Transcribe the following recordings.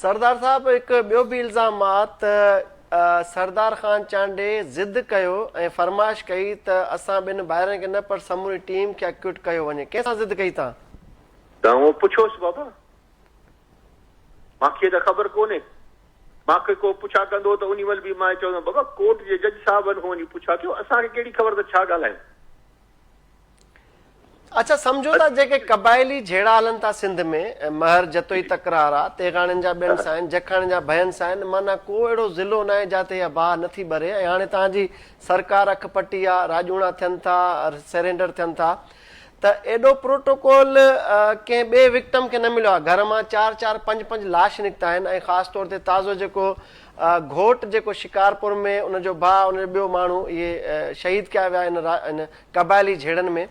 سردار صاحب هڪ ٻيو به الزام آ ته سردار خان چانڊئي ضد ڪيو ۽ فرمائش ڪئي ته اسان ٻن ڀائرن کي نه پر سموري ٽيم کي اڪوٽ ڪيو وڃي ڪنهن سان ضد ڪئي تان؟ ته اوهان پڇوس بابا مان کي ته خبر ڪونهي مان کي ڪو پڇا ڪندو ته انهي مهل به مان چوندم بابا ڪورٽ جي جج صاحبن کان وڃي پڇا ڪيو اسان کي ڪهڙي خبر ته ڇا ڳالهايون. اچا سمجهو ته جيڪي قبائلي جهيڙا هلن ٿا سنڌ ۾، مهر جتوئي تڪرار آ، تيغاڻين جا ٻين سان آهن، جکاڻين جا ڀين سان آهن، معنيٰ ڪو اهڙو ضلعو ناهي جاتي اها باهه نٿي ٻري ۽ هاڻي توهان جي سرڪار اک پٽي آ، راڄوڻا ٿين ٿا، سرينڊر ٿين ٿا ته ايڏو پروٽوڪول ڪنهن ٻئي وڪٽم کي نه مليو آ، گهر مان چار چار پنج پنج لاش نڪتا آهن ۽ خاص طور تي تازو جيڪو گهوٽ جيڪو شڪارپور ۾ ان جو ڀاء ان جو ٻيو ماڻهو اهي شهيد ڪيا ويا ان قبائلي جهيڙن ۾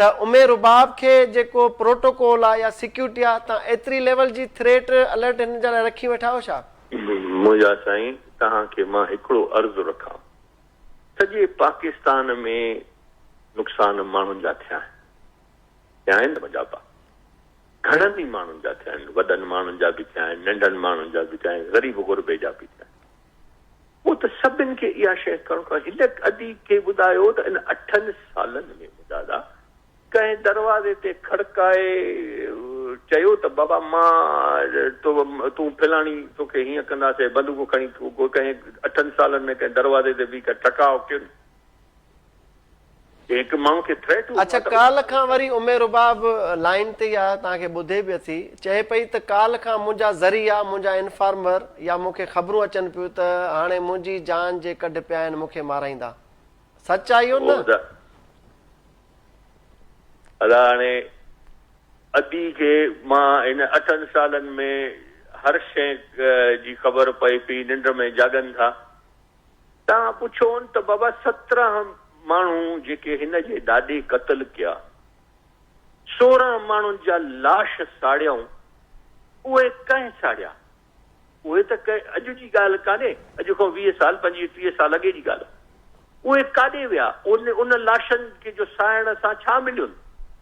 ته امي رباب کي جيڪو پروٽوڪول آ يا سيڪيورٽي آ تان ايتري ليول جي ٿريٽ الرٽ هن جا لاء رکي ويٺا آهيو ڇا؟ مجاهد سائين توهان کي مان هڪڙو عرض رکان سڄي پاڪستان ۾ نقصان ماڻهن جا ٿيا آهن ٿيا آهن نه مجابا گهڻن ئي ماڻهن جا ٿيا آهن وڏن ماڻهن جا به ٿيا آهن ننڍن ماڻهن جا به ٿيا آهن غريب غربي جا به ٿيا آهن. مون ته سڀن کي اها شيء ڪرڻ کان هن ادي کي ٻڌايو ته ان اٺن سالن ۾ مدادا ڪنهن دروازي تي کڙڪائي چيو ته بابا مان تو تون فلاڻي تو کي هيئن ڪنداسين بندوق کڻي ڪنهن اٺن سالن ۾ ڪنهن دروازي تي بيهي ڪر ٽڪاء ڪين جي هڪ ماڻهو کي ٿريٽ هو اڇ ڪالهه کان وري امي رباب لائين تي ئي آهي توهان کي ٻڌي به اٿي چئي پئي ته ڪالهه کان منهنجا ذريعا منهنجا انفارمر يا مون کي خبرون اچن پيون ته هاڻي منهنجي جان جي ڪڍ پيا آهن مون کي مارائيندا سچ آهي اهو نه ادا هاڻي ادي کي مان هن اٺن سالن ۾ هر شئي جي خبر پئي پئي ننڊ ۾ جاڳن ٿا تان پڇون ته بابا سترهن ماڻهو جيڪي هن جي ڏاڏي قتل ڪيا، سورهن ماڻهن جا لاش ساڙيائون، اهي ڪنهن ساڙيا؟ اهي ته ڪي اڄ جي ڳالهه ڪانهي، اڄ کان ويهه سال، پنجويهه ٽيهه سال اڳي جي ڳالهه آهي. اهي ڪاڏي ويا؟ ان لاشن کي جو ساڙڻ سان ڇا مليون؟